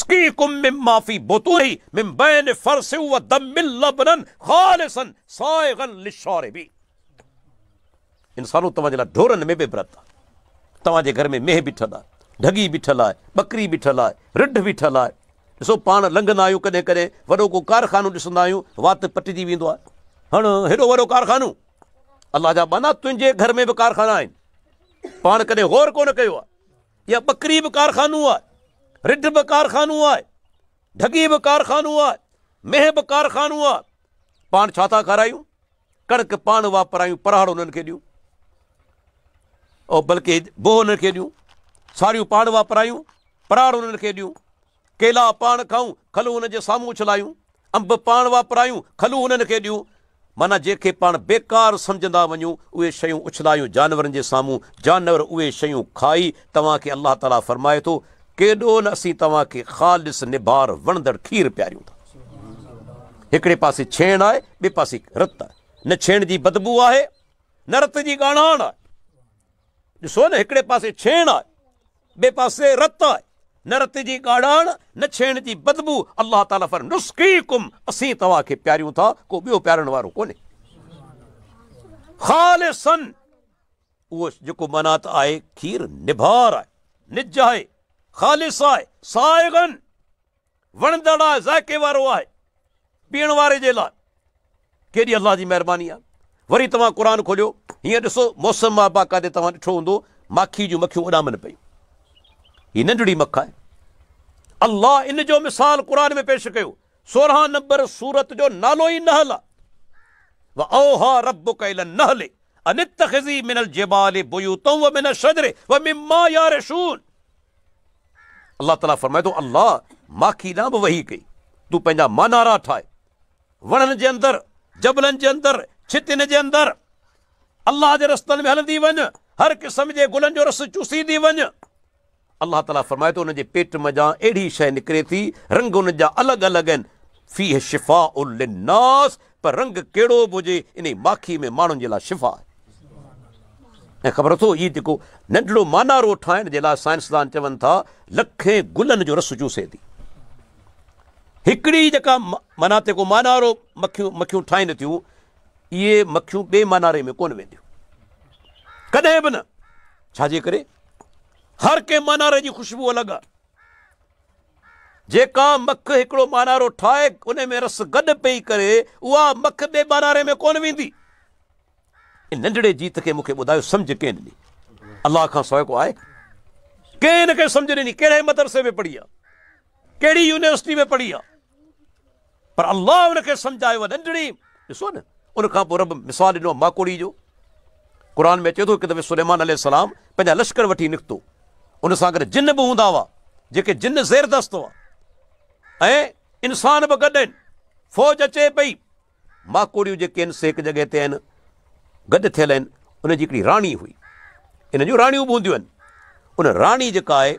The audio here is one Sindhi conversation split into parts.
يسقيكم مما في بطونه من بين فرث ودم لبنا خالصا سائغا للشاربين انسانو توهان جي لاء ڍورن ۾ به عبرت آهي توهان جي گهر ۾ مينهن بيٺل آهي ڍڳي بيٺل آهي ٻڪري بيٺل آهي رڍ بيٺل آهي ڏسو پاڻ لنگهندا آهيون ڪڏهن ڪڏهن وڏو ڪو ڪارخانو ڏسندا آهيون وات پٽجي ويندو آهي هڻ هيڏو وڏو ڪارخانو الله جا بنا تنهنجي گهر ۾ به ڪارخانا آهن پاڻ ڪڏهن غور ڪونه ڪيو آهي اها ٻڪري به ڪارخانو آهي، رڍ به ڪارخانو آهي، ڍڳي به ڪارخانو آهي، مينهن به ڪارخانو آهي. پاڻ ڇا ٿا کارايون؟ ڪڻڪ پاڻ واپرايون، پرهاڙ انهن کي ڏيون. او بلڪه بوهه انهن کي ڏيون، ساڙيون پاڻ واپرايون، پرهاڙ انهن کي ڏيون. ڪيلا پاڻ کائون، کلون هن جي سامهون اڇلايون، انب پاڻ واپرايون، کلون هنن کي ڏيون، معنيٰ جنهن کي پاڻ بيڪار سمجهندا وڃون، اهي شيون اڇلايون جانورن جي سامهون، جانور اهي شيون کائي، توهان کي الله تعاليٰ فرمائي ٿو، ڪيڏو نه اسين توهان کي خالص نبار وڻندڙ کير پياريون ٿا. هڪڙي پاسي ڇيڻ آهي، ٻئي پاسي رت آهي، نه ڇيڻ جي بدبو آهي، نه رت جي ڳاڻهان آهي. ڏسو نه هڪڙي پاسي ڇيڻ آهي. ٻئي پاسي رت آهي، نه رت جي ڳاڙهاڻ، نه ڇيڻ جي بدبو، الله تعالي فرمائي ٿو، نسقيڪم، اسين توهان کي پياريون ٿا، ڪو ٻيو پيارڻ وارو ڪونهي، خالصا، اهو جيڪو منات آهي، کير نڀار آهي، نج آهي، خالص آهي، سائغا. وڻندڙ آهي، ذائقي وارو آهي، پيئڻ واري جي لاء ڪيڏي الله جي مهرباني آهي. وري توهان قرآن کوليو، هينئر ڏسو موسم مان باقاعدي توهان ڏٺو هوندو ماکي جون مکيون اڏامن پيون. هي ننڍڙي مک آهي. الله ان جو مثال قرآن ۾ پيش ڪيو. سورهان نمبر سورت جو نالو ئي نحل آهي. واوحا ربک الى النحل ان اتخذي من الجبال بيوتا ومن الشجر ومما يعرشون. الله تعالي فرمائي ٿو، الله ماکي ڏانهن به وحي ڪئي، تون پنهنجا مانارا ٺاهه، وڻن جي اندر، جبلن جي اندر، ڇتين جي اندر، الله جي رستن ۾ هلندي وڃ، هر قسم جي گلن جو رس چوسيندي وڃ. الله تعالي فرمائي ٿو، انهن جي پيٽ منجهان اهڙي شيء نڪري ٿي، رنگ انهن جا الڳ الڳ آهن، فيه شفاء للناس، پر رنگ ڪهڙو به هجي انهي ماکي ۾ ماڻهن جي لاء شفا آهي ۽ خبر اٿو هي جيڪو ننڍڙو مانارو ٺاهڻ جي لاء سائنسدان چون ٿا لکين گلن جو رس چوسي ٿي هڪڙي جيڪا منا تيڪو مانارو مکيون مکيون ٺاهين ٿيون اهي مکيون ٻي ماناري ۾ ڪون وينديون ڪڏهن به نه ڇاجي ڪري هر ڪنهن ماناري جي خوشبو الڳ آهي جيڪا مک هڪڙو مانارو ٺاهي ان ۾ رس گڏ پئي ڪري، اها مک ٻئي ماناري ۾ ڪونه ويندي. ان ننڍڙي جيت کي مون کي ٻڌايو سمجهه ڪنهن ڏني؟ الله کان سواء ڪو آهي؟ ڪنهن ان کي سمجهه ڏني؟ ڪهڙي مدرسي ۾ پڙهي آ؟ ڪهڙي يونيورسٽي ۾ پڙهي آ؟ پر الله ان کي سمجهايو اهي ننڍڙي، ڏسو نه ان کان پوء رب مثال ڏنو ماڪوڙي جو، قرآن ۾ اچي ٿو هڪ دفعي سليمان عليه السلام پنهنجا لشڪر وٺي نڪتو، ان سان گڏ جن به هوندا هئا، جيڪي جن زير دست هئا ۽ انسان به گڏ آهن، فوج اچي پئي، ماڪوڙيون جيڪي آهن سي هڪ جڳهه تي آهن گڏ ٿيل آهن، ان جي هڪڙي راڻي هئي، انهن جون راڻيون به هونديون آهن، ان راڻي جيڪا آهي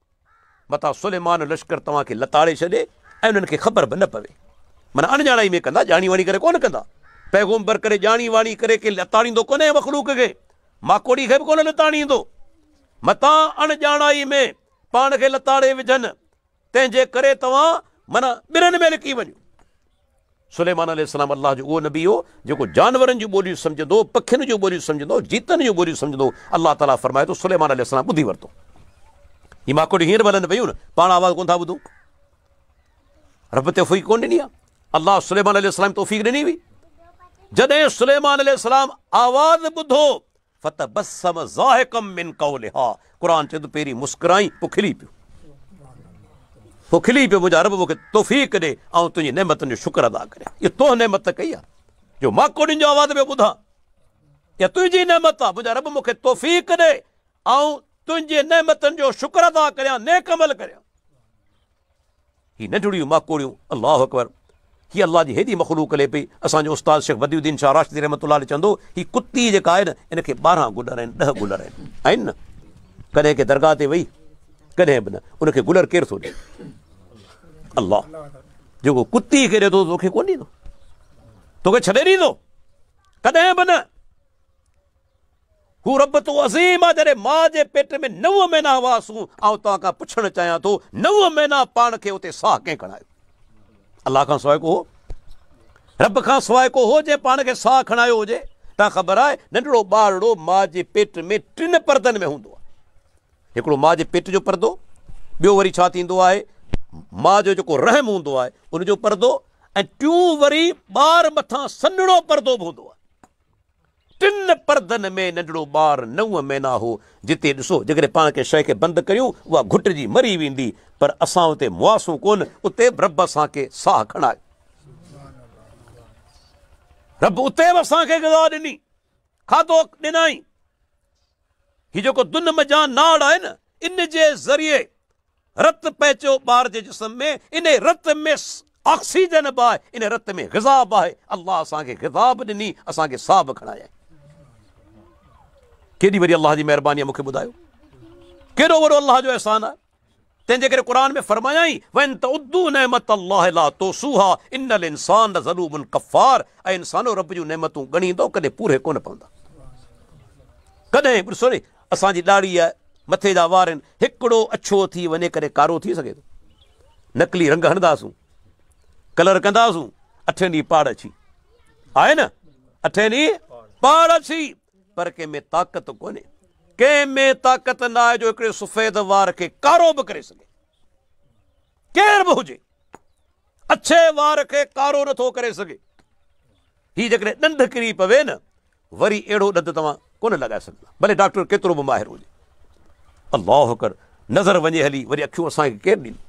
متان سليمان لشڪر توهان کي لتاڙي ڇڏي ۽ انهن کي خبر به نه پوي. معنيٰ اڻڄاڻائي ۾ ڪندا، ڄاڻي واڻي ڪري ڪونه ڪندا. پيغمبر ڪڏهن ڄاڻي واڻي ڪري ڪنهن لتاڙيندو ڪونهي مخلوق کي، ماڪوڙي کي به ڪونه لتاڙيندو. متان اڻڄاڻائي ۾ پاڻ کي لتاڙي وجهن، تنهن جي ڪري توهان معنيٰ ٻرن ۾ لڪي وڃو. سليمان عليه السلام الله جو اهو نبي هو جيڪو جانورن جون ٻوليون سمجهندو هو، پکين جون ٻوليون سمجهندو هو، جيتن جون ٻوليون سمجهندو هو، الله تعاليٰ فرمائي ٿو سليمان عليه السلام ٻڌي ورتو. هي ماڪوڙيون هينئر به هلن پيون نه، پاڻ آواز ڪونه ٿا ٻڌون. رب توفيق ڪونه ڏني آهي. الله سليمان عليه السلام توفيق ڏني هئي. جڏهن سليمان عليه السلام آواز ٻڌو فتبسم ضاحڪا من قولها قرآن چوي ٿو پهرين مسڪرائين پوء کلي پيو پوء کلي پيو منهنجا رب مونکي توفيق ڏي آئون تنهنجي نعمتن جو شڪر ادا ڪريان اهو تو نعمت ڪئي آهي جو مان ڪوڏين جو آواز پيو ٻڌان اها تنهنجي نعمت آهي منهنجا رب مونکي توفيق ڏي آئون تنهنجي نعمتن جو شڪر ادا ڪريان نيڪ عمل ڪريان هي ننڍڙيون ماڪوڙيون الله اڪبر هي الله جي هيڏي مخلوق لي پئي اسان جو استاد شيخ بديع الدين شاهه راشدي رحمة الله عليه چوندو هي ڪتي جيڪا آهي نه ان کي ٻارهن گلر آهن ڏهه گلر آهن آهن نه ڪڏهن ڪي درگاهه تي وئي ڪڏهن به نه ان کي گلر ڪير ٿو ڏي الله جيڪو ڪتي کي ڏي ٿو توکي ڪون ڏيندو توکي ڇڏي ڏيندو ڪڏهن به نه هو رب تو عظيم آ جڏهن ماء جي پيٽ ۾ نو مهينا هئاسون آئون توهان کان پڇڻ چاهيان ٿو نو مهينا پاڻ کي اتي ساهه ڪنهن کڻايو الله کان سواء ڪو هو رب کان سواء ڪو هو جنهن پاڻ کي ساهه کڻايو هجي تنهن خبر آهي ننڍڙو ٻارڙو ماء جي پيٽ ۾ ٽن پردن ۾ هوندو آهي هڪڙو ماء جي پيٽ جو پردو ٻيو وري ڇا ٿيندو آهي ماء جو جيڪو رحم هوندو آهي ان جو پردو ۽ ٽيون وري ٻار مٿان سنهڙو پردو به هوندو آهي ٽن پردن ۾ ننڍڙو ٻار نو مهينا هو. جتي ڏسو جيڪڏهن پاڻ ڪنهن شيء کي بند ڪريون اها گهٽجي مري ويندي پر اسان اتي مواسون ڪونه اتي به رب اسان کي ساهه کڻائي. رب اتي به اسان کي غذا ڏني کاڌو ڏنائين. هي جيڪو دن مجان ناڙ آهي نه ان جي ذريعي رت پهچيو ٻار جي جسم ۾ انهي رت ۾ آڪسيجن به آهي انهي رت ۾ غذا به آهي الله اسان کي غذا به ڏني اسان کي ساهه به کڻايائين ڪيڏي وڏي الله جي مهرباني آهي مون کي ٻڌايو ڪيڏو وڏو الله جو احسان آهي تنهن جي ڪري قرآ ۾ فرمايائين وين ته ادو نعمت الله لا تو سوها ان الانسان ضلوب القفار اي انسانو رب جون نعمتون ڳڻيندو ڪڏهن پوري ڪونه پوندا ڪڏهن ڏسو اسان جي ڏاڙهيء مٿي جا وار آهن، هڪڙو اڇو ٿي وڃي ڪڏهن ڪارو ٿي سگهي ٿو. نقلي رنگ هڻنداسون، ڪلر ڪنداسون، اٺين ڏينهن پاڙ اڇي آهي نه، اٺين ڏينهن پاڙ اڇي، پر ڪنهن ۾ طاقت ڪونهي، ڪنهن ۾ طاقت ناهي جو هڪڙي سفيد وار کي ڪارو به ڪري سگهي. ڪير به هجي، اڇي وار کي ڪارو نٿو ڪري سگهي. هي جيڪڏهن ڏنڊ ڪري پوي نه، وري اهڙو ڏند توهان ڪونه لڳائي سگهندا ڀلي ڊاڪٽر ڪيترو به ماهر هجي. الله اڪبر نظر وڃي هلي وري اکيون اسان کي ڪير ڏيندو.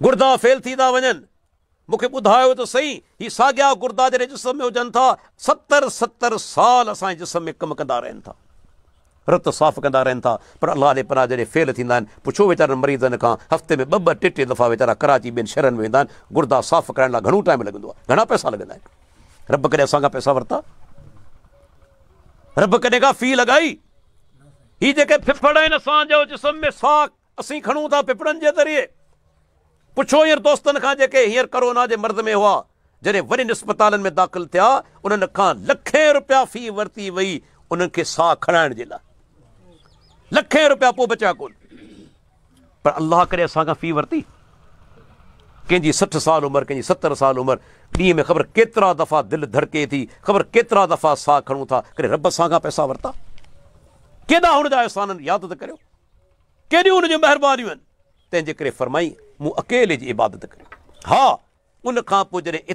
گردا فيل ٿي ٿا وڃن. مون کي ٻڌايو ته سهي هي ساڳيا گردا جڏهن جسم ۾ هجن ٿا ستر ستر سال اسان جي جسم ۾ ڪم ڪندا رهن ٿا. رت صاف ڪندا رهن ٿا پر الله علي پناهه جهڙي فعل ٿيندا آهن پڇو ويچارن مريضن کان هفتي ۾ ٻه ٻه ٽي ٽي دفعا ويچارا ڪراچي ٻين شهرن ۾ ويندا آهن گردا صاف ڪرائڻ لاء گهڻو ٽائيم لڳندو آهي گهڻا پئسا لڳندا آهن رب ڪڏهن اسان کان پئسا ورتا رب ڪڏهن کان في لڳائي هي جيڪي ڦڦڙ آهن اسان جو جسم ۾ ساک اسين کڻون ٿا ڦڦڙن جي ذريعي پڇو هينئر دوستن کان جيڪي هينئر ڪورونا جي مرض ۾ هئا جڏهن وڏين اسپتالن ۾ داخل ٿيا انهن کان لکين روپيا في ورتي وئي انهن کي ساهه کڻائڻ جي لاء لکين روپيا پوء بچيا ڪون پر الله ڪڏهن اسان کان في ورتي ڪنهن جي سٺ سال عمر ڪنهن جي ستر سال عمر ڏينهن ۾ خبر ڪيترا دفعا دل ڌڙڪي ٿي خبر ڪيترا دفعا ساهه کڻون ٿا ڪڏهن رب اسان کان پئسا ورتا ڪيڏا هن جا احسان ياد ته ڪريو ڪيڏيون هن جون مهربانيون آهن تنهنجي ڪري فرمائين، مون اڪيلي جي عبادت ڪري. ها! ان کان پوء جڏهن.